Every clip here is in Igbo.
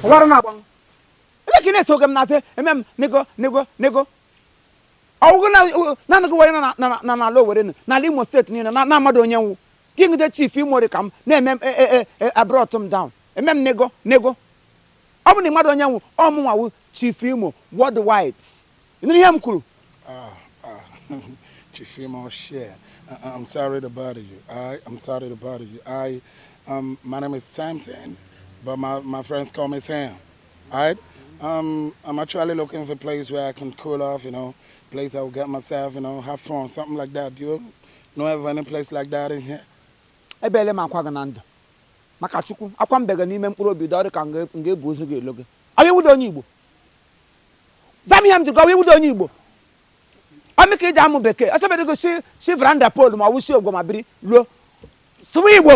ọwara na-agbanwe ebe ka ị na-eso oge m na-asị eme m nego nego nego ọ wụ gị naanị gị were na n'ala Owerri n'ala Imo steeti niile na-amadị onye m wụ king de chief imo ri ka m na-eme m e, e, e, abrọt m down eme m nego nego ọ bụ na ị madị onye m wụ ọ mụ nwa wụ chief imo worldwide ị nụrụ ihe m kwuru ah, ah. chief imo share I'm sorry to bother you. I, I'm sorry to bother you. I, um, my name is Samson, but my, my friends call me Sam. Alright, um, I'm actually looking for a place where I can cool off, you know, place I will get myself, you know, have fun, something like that. Do you know of any place like that in here? Ebele m akwa gị na ndụ maka Chukwu akwa m bega n'ime mkpụrụ obi dọrị ka m ga-ebu ozu gị elo gị ọ wụ ị wụdị onye Igbo zaa m ihe m jụga ọ wụ ị wụdị onye Igbo ọ mụ ka i ji amụ bekee ọsọbedo gị si si veranda polu ma ọ wụsi ogwo ma biri luo sụwa Igbo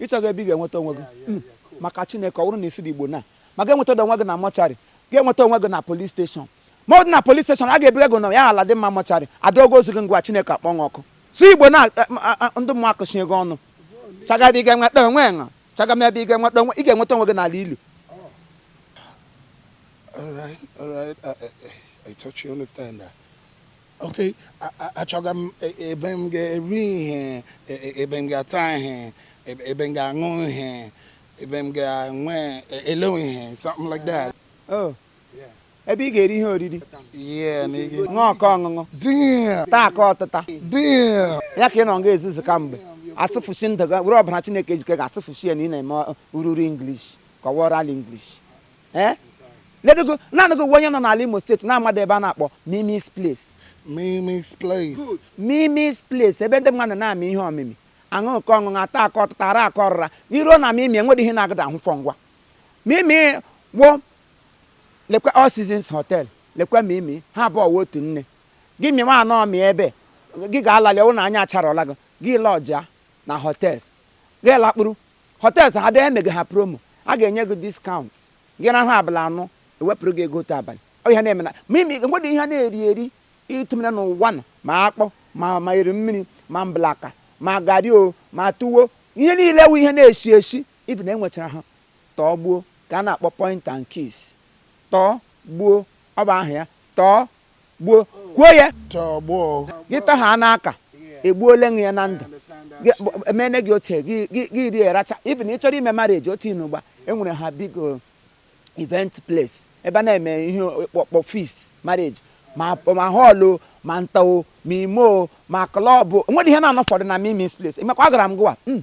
Ị chọga ebe ị ga-enweta onwe gị hmm. maka Chineke ọ bụrụ na ị sụdị Igbo na ma ị ga-enweta onwe gị na mọcharị ga-enweta onwe gị na polis steshọn ma ọ dị na polis steshọn a ga-ebuga gị na Aladinma mọcharị adọga ozu gị ngwa Chineke akpọọ gị ọkụ sụọ Igbo na eh, eh, ndị mmụọ akụchie gị ọnụ chọgadị ebe ị ga-enweta onwe gị achọga m ebe ị ga-enweta onwe ị ga-enweta onwe gị n'ala ilu All right, all right. I, I, I thought you understand that. okay achọga m e, ebe m ga-eri ihe e, e, ebe m ga-ata ihe ebe m ga-aṅụ ihe ebe m ga-enwe ele ihe something like that oh. ebe ị ga-eri ihe oriri ṅụọ ke ọṅụṅụ taa ke ọtịta ya ka ị nọ nga ezuzu kemgbe asụfụchi ndụ were ọbara Chineke ejike ga-asụfụchi ya na ị na-eme ururu English kọwara ala English ee ledogo naanị gị wụ onye nọ n'ala imo steeti na-amadị ebe a na-akpọ mimis place Mimi's place. mimis place ebe ndị mmadụ na-amị ihe ọmịmị aṅụ nke ọṅụṅụ ata ke ọtịta ara ke ọrịra i ruo na mimi enwedị ihe ị na-agadị ahụ fọ ngwa mimi wụ lekwa all seasons hotel lekwa mimi ha abụọ wụ otu nne gị mịwa anọ mị ebe gị ga-alali ọ wụ na anya acharọla gị gị lọjia na hotels gị lakpuru Hotels ha dị emega ha promo. A ga-enye gị discount. Gị rahụ abalị anọ, ewepụrụ gị ego otu abalị. Ọ ihe na-eme na mimi enwedị ihe a na-eri eri itumere n'ụwa nọ ma akpụ ma eri mmiri ma mblaka ma garị o ma tuwo ihe niile wụ ihe na-esi esi even enwechara ha tụọ gbuo ke a na-akpọ point and kiss tụọ gbuo ọ bụ aha ya tụọ gbuo kwuo ya gị tọha anụ aka egbuole nụ ya na ndụ emene gị otu gị rie racha even ị chọrọ ime marriage otu inugba enwere ha big uh, event place ebe a na-eme ihe ọkpọkpọ feast marriage ma hall ma ntọo ma imo ma club nwere ihe na-anọ fọdụ na Mimi's place emekwa agara m gụwa hmm.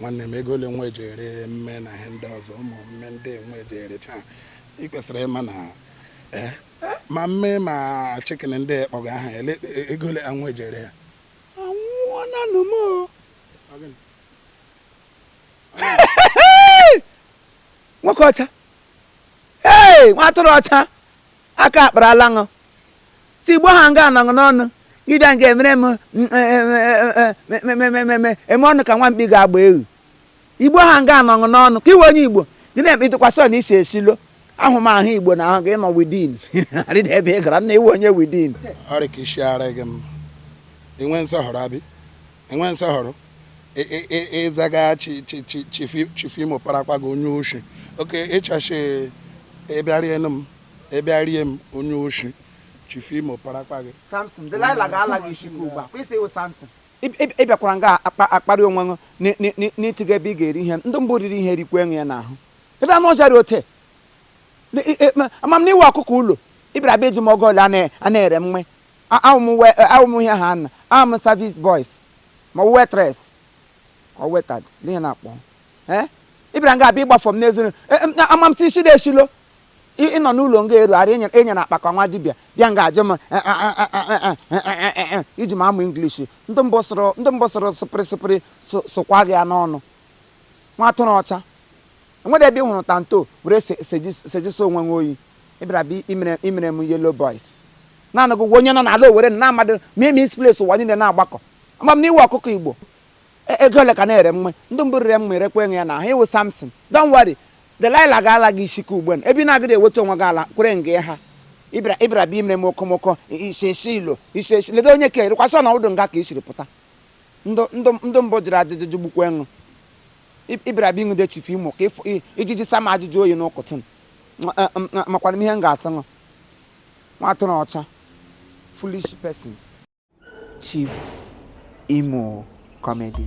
nwanne m ego ole nwa eji ere mme na ihe ndị ọzọ ụmụ mme ndị nwa eji erecha ị kwesịrị ịma na eh, ma mme ma chicken ndị kpọga aha ele ego ole nwa eji ere ya anwụọna nụ m nwoke ọcha ee nwa atụrụ ọcha Aka akparala ṅụ si igbo ha nga anọṅụ n'ọnụ gị bịa nga emere m eme ọnụ ka nwa mkpi ga-agba eghu igbo ha nga anọṅụ n'ọnụ ka ị wụ onye igbo gị na-eme ịtụkwasị ọ na isi esilo ahụmahụ igbo na ahụ gị nọ within arịda ebe ị gara na ị wụ onye within ọrịa ka isi ara gị m enwe nsọhọrọ abi enwe nsọhọrọ ịzaga chief imo parakwa gị onye oshi oke church ịbịarie m ịbịarie m onye oshi chief imo parakwa gị samson delilah ga-ala gị isi gị ugbu a kwesị ị wụ samson ị bịakwara nga akparị onwe ṅụ n'ịtịga ebe ị ga-eri ihe ndị mbụ riri ihe rikwe ṅụ ya n'ahụ ebe anụ ọzara ote ama m na ị wụ ọkụkọ ụlọ ị bịara bịa ajụ m ego ole a na-ere mme A ahụ m we awụ m ihe ha na ahụ m service boys ma ọ bụ waitress ka ọ waiter ndị ihe na-akpọ ee ị bịara nga abịa ịgbafọ m n'ezuru ama m si isi na-eshilo ị nọ n'ụlọ nga eru ara enyere enyere akpa ka nwa dibịa bịa nga ajụ m iji m amụ English ndị mbụ sụrụ ndị mbụ sụrụ sụpịrị sụpịrị sụ- sụkwa gị ya n'ọnụ nwa atụrụ ọcha enwere ebe ị hụrụ tanto were se- seji- sejisi onwe nwe oyi ị bịara bịa imere imere m yellow boys naanị gị wụ onye nọ n'ala Owerri na-amadị Mimi's place ụwa niile na-agbakọ ama m na ị wụ ọkụkọ Igbo E- ego ole ka a na-ere mme ndị mbụ rere mme erekwa ṅụ ya n'ahụ ị wụ Samson don't worry Delilah ga-ala gị isi ka ugbu a ebe ị na-agaghị eweta onwe gị ala kwere nga ya ha ịbịara ịbịara bịa imere m okomoko isi esilo isesi ledo onye ka erikwasị ọ na ụdụ nga ka i siri pụta ndị ndị ndị mbụ jụrụ ajụjụ jụgbukwa ṅụ ịbịara bịa ịṅụde chief imo ka ịfụ- i- ijiji sama ajụjụ oyi n'ụkụtụ makwana m ihe m ga-asị ṅụ nwa atụrụ ọcha foolish persons chief imo comedy